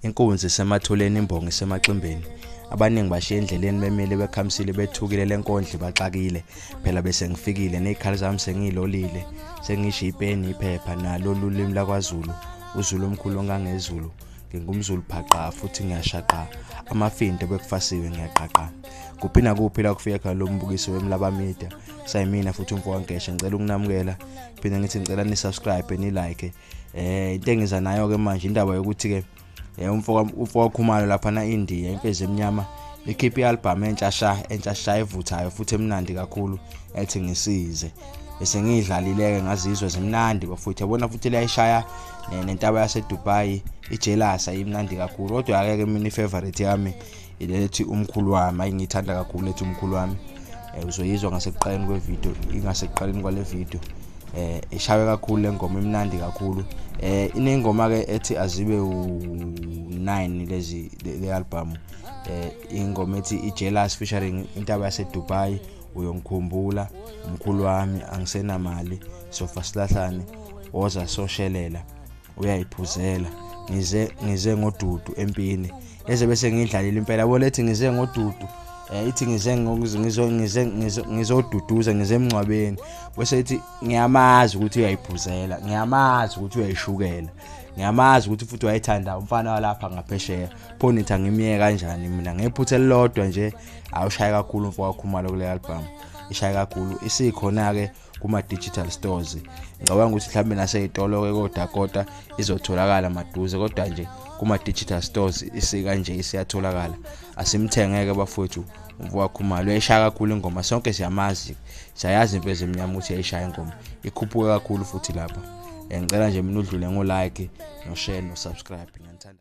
inkunzi isemathuleni imbongi isemaximbeni abaningi bashiya endleleni bemile bekhamisile bethukile lenkondle baxakile phela bese ngifikile nezikhali zami sengilolile sengisho ipeni iphepha nalo lulimi lakwaZulu uZulu omkhulu ongangezulu ngingumzulu phaqa futhi ngiyashaqa amafindo bekufasiwe ngiyaqaqa kuphi nakuphi la kufika khona lo mbukiso wemlaba media sayimina futhi umfo wankesha ngicela ukunamukela phinde ngithi ngicela ni subscribe ni like eh into engiza nayo ke manje indaba yokuthi ke eh, umfo umfo wakhumalo lapha na India imfezi emnyama ikhiphe i-album entsha sha entsha sha evuthayo futhi emnandi kakhulu ethi ngisize bese ngiyidlalileke ngazizwe zimnandi bafuthe yabona futhi liyayishaya nentaba yasedubai ijealous ayimnandi kakhulu kodwa akeke mina ifavorite yami ilethi umkhulu wami ayingiyithanda kakhulu lethi umkhulu wami um uzoyizwa ngasekuqaleni kwevidiyo ingasekuqaleni kwale vidiyo um ishawe kakhulu le ngoma imnandi kakhulu um inengoma-ke ethi azibe u-nine lezi le album um ingoma ethi i-jealous featuring intaba yasedubai uyongikhumbula umkhulu wami angisenamali sofa silahlane woza soshelela uyayiphuzela ngize ngize ngodudu empini eze bese ngidlalile impela bona ethi ngize ngodudu eh ithi ngize ngizo ngize ngizoduduza ngize emncwabeni bese ithi ngiyamazi ukuthi uyayiphuzela ngiyamazi ukuthi uyayishukela ngiyamazi ukuthi futhi wayethanda umfana walapha ngaphesheya pho nithi angimyeke kanjani mina ngephutha elilodwa nje awushaye kakhulu mfowakho umalo kule album ishaye kakhulu isikhona-ke kuma-digital stores ngicabanga ukuthi mhlawumbe naseyitolo-ke kodakota izotholakala maduze kodwa nje kuma-digital stores isikanje isiyatholakala asimthengeke bafowethu umfowakhumalo uyayishaya kakhulu ingoma sonke siyamazi siyayazi impezo emnyama ukuthi yayishaya ingoma ikhuphuke kakhulu futhi lapha ngicela nje mina udlule ngo-like no-share no-subscribe ngiyanithanda